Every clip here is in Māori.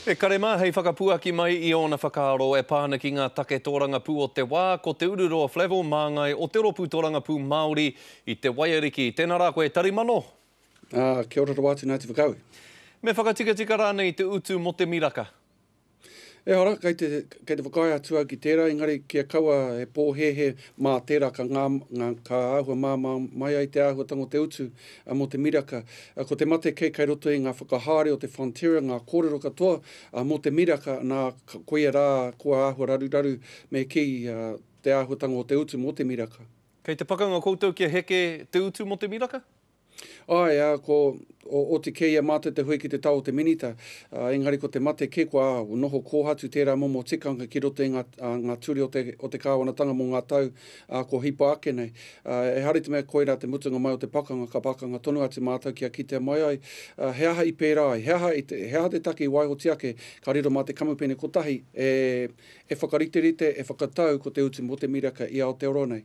E kare mā, hei whakapuaki mai i ōna whakaaro e pā ana ki ngā take tōrangapū o te wā, ko te uru roa Flavell māngai o te rōpū tōrangapū Māori i Te Waiariki. Tēnā rā koe, Tarimano! Ā, kia ora rawa atu, Ngāti Whakaue. Me whakatikatika rānei te utu mō te miraka? Ehara, kei te, kei te whakaae atu au ki tērā, engari kia kaua he pōhēhē mā tērā ka ngā, ngā, ka āhua māmā mai ai te āhuatanga o te utu Mō te miraka, ko te mate kei kai roto i ngā whakahaere o te Fonterra, ngā kōrero katoa mō te miraka, nā, koia rā kua āhua raruraru me kī te āhuatanga o te utu mō te miraka. Kei te pakanga koutou kia heke te utu mō te miraka? Āe, ā, ko, oti kē i a mātou te hui ki te tao o te Minita, ā, engari ko te mate kē kua noho kōhatu tērā momo tikanga ki roto i ngā, ngā ture o te, o te kāwanatanga mō ngā tau ā, kua hipa ake nei. Ā, ehara i te mea koirā te mutunga mai o te pakanga, ka pakanga tonu atu mātou kia kitea mai ai, ā, he aha i pērā ai, he aha, i te, he aha te take i waihotia ake, ka riro mā te kamupene kotahi e, e whakariterite, e whakatau ko te utu mō te miraka i Aotearoa nei.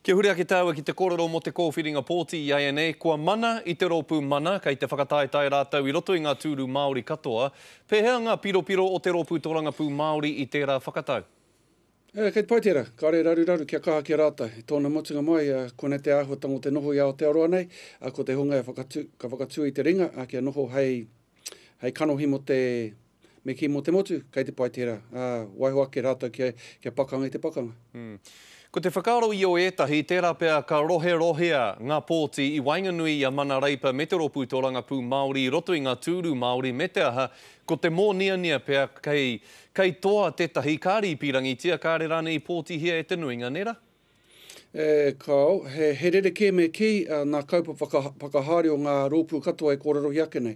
Kia huri ake tāua ki te kōrero mō te kōwhiringa pōti i āianei, kua mana i te rōpū mana, kei te whakataetae rātou i roto i ngā tūru Māori katoa. Pēhea ngā piropiro o te rōpū Tōrangapū Māori i tērā whakatau? Ē, kei te pai tērā. Kāre e raruraru kia kaha ki a rātou. I tōna mutunga mai, ā, koinei te āhuatanga o te noho i Aotearoa nei, ā, ko te hunga e whakatū, ka whakatū i te ringa, ā, kia noho hei, hei kanohi mō te, me kī mō te motu, kei te pai tērā. Ā, waiho ake rātou kia, kia pakanga i te pakanga. Hm. Ko te whakaaro i o ētahi, tērā pea ka roherohea ngā pōti i waenganui i a Mana Reipa me te Rōpū Tōrangapū Māori i roto i ngā tūru Māori me te aha, Ko te mōniania pea kei, kei toa tētahi ka rīpīrangitia, kāre rānei i pōtihia e te nuinga, nē rā? E, kāo. He, he rerekē me kī, ā, nā kaupapa ka, whakahaere o ngā rōpū katoa e kōrerohia ake nei.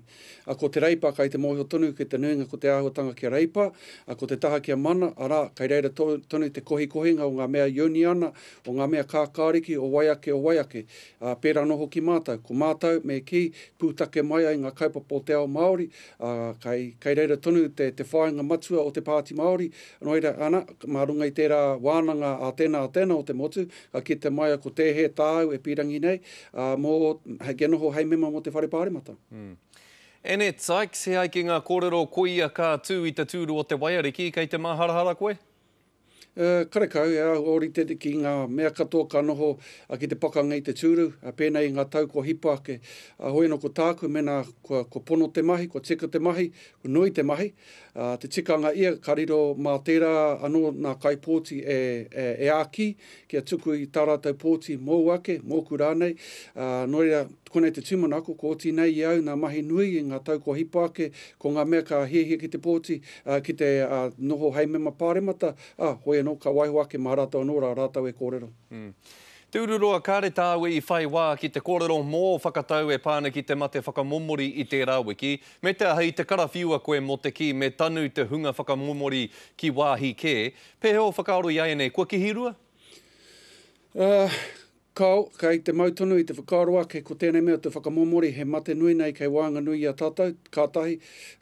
Ā, ko te Reipa kai te mōhio tonu ki te nuinga ko te āhuatanga kia reipa, ā, ko te taha kia mana, arā, kei reira to, tonu te kohikohinga o ngā mea ioniana, o ngā mea kākāriki o wai ake, o wai ake. Ā, pērā anō hoki mātou. Ko mātou, me kī, pūtake mai ai ngā kaupapa o te ao Māori, Ā, kai, kai reira tonu te, te whāinga matua o te Pāti Māori, nō reira, ana, mā runga i tērā wānanga ā tēnā, ā tēnā o te motu, ka kite mai a ko Tēhē tāu e pīrangi nei, ā, mō, hei, kia noho hei mema mō te Whare Pāremata. Anne Sykes, he ai ki ngā kōrero koia ka tū i te tūru o te waiariki, kei te māharahara koe? E, karekau, e āhua ōrite ki ngā mea katoa ka noho ki te pakanga i te tūru, pēnei i ngā tau kua hipa ake. Hoi anō ko tāku, mēnā kua, kua pono te mahi, kua tika te mahi, kua nui te mahi, te tikanga ia ka riro mā tērā anō nā kaipōti e, e, e āki kia tuku i tā rātou pōti mōu ake, mōku rānei. Nō reira, konei te tūmanako, ko oti nei i au nā mahi nui i ngā tau kua hipa ake, Ko ngā mea ka hiahia ki te pōti, ā, ki te, ā, noho hei mema Pāremata, ā, hoi anō, ka waiho ake mā rātou anō rā rātou e kōrero. Te Ururoa Kāre tāu i whai wā ki te kōrero mō ō whakatau e pā ana ki te mate whakamomori i tērā wiki, me te aha i te karawhiua koe mō te kī me tanu te hunga whakamomori ki wāhi kē, pēhea o whakaaro i a ēnei kua kihirua? Ā, Kao, kei te mau tonu i te whakaaro ake ko tēnei mea te whakamomori he mate nui nei kei waenganui i a tātou, ka tahi,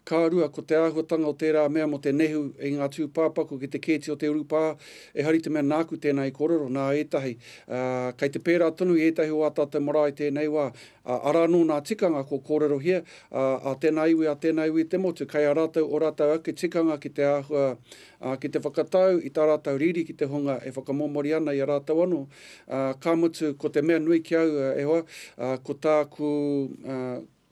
ka rua ko te āhuatanga o tērā mea mō te nehu i ngā tūpāpaku ki te kēti o te urupā, ehari te mea nāku tēnā i kōrero, nā ētahi, ā, kei te pērā tonu i ētahi o ā tātou marae tēnei wā, ā, arā anō nā tikanga kua kōrerohia, ā, ā tēnā iwi, ā tēnā iwi i te motu, kei a rātou ō rātou ake tikanga ki te āhua ā, ki te whakatau i tā rātou riri ki te hunga e whakamomori ana i a rātou anō, ā, ka mutu, ko te mea nui ki au, e hoa, ā, ko tāku, ā,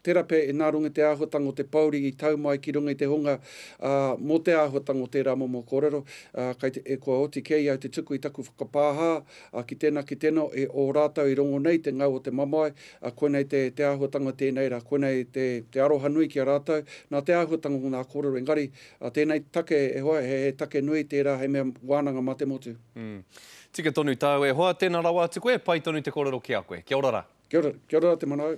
terape nā runga i te āhuatanga o te pōuri i tau mai ki runga i te hunga, ā, mō te āhuatanga o tērā momo kōrero, ā, kei te, e, kua oti kē i au te tuku i taku whakapāhā, ā, ki tēnā, ki tēnā, e ō rātou i rongo nei te ngau o te mamae, ā, koinei te, te āhuatanga tēnei rā, koinei te, te aroha nui ki a rātou, nā te āhuatanga o ngā kōrero, engari, A tēnei take e hoa, he take nui tērā hei mea wānanga mā te motu. Mm. Tika tonu tāu e hoa, tēnā rawa atu koe, pai tonu te kōrero ki a koe. Kia ora rā. Kia ora, kia ora rā te manaau.